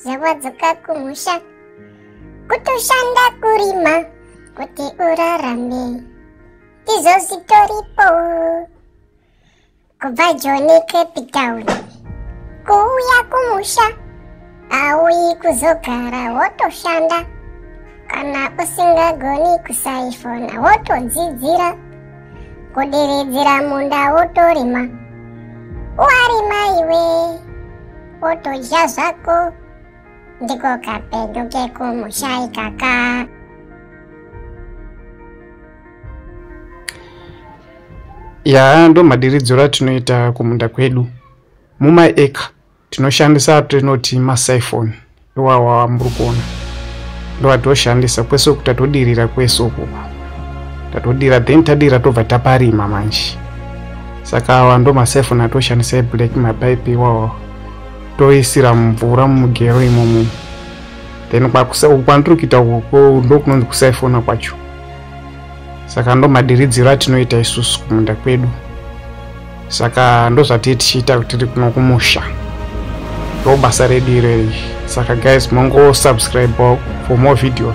zvawadzoka kumusha kutoshanda kurima kuti urarame ndizvo zvitoripo kubva joni cape town kuuya kumusha auyi kuzogara wotoshanda kana usingagoni kusaifona wotodzidzira kudiredzera munda wotorima warima iwee otodya zvako ndiko kapenyu kekumusha ikaka yaa ndo madiridziro atinoita kumunda kwedu mumaeka tinoshandisa atinoti masiphone wawawa muri kuona ndovatoshandisa kwese uku tatodirira kwese uku tatodira then tadira tobva taparima manje saka awa ndo masefoni atoshandisa eblack mapaipi iwawa toisira mumvura mumugero imomo then kwandiri kuita uko ndokunonzi kusaifona kwacho saka ndo madiridziro atinoita isusu kumunda kwedu saka ndozvatii tichiita kutiri kuno kumusha ndo basa redu ireri saka guys mongosubscribe for more videos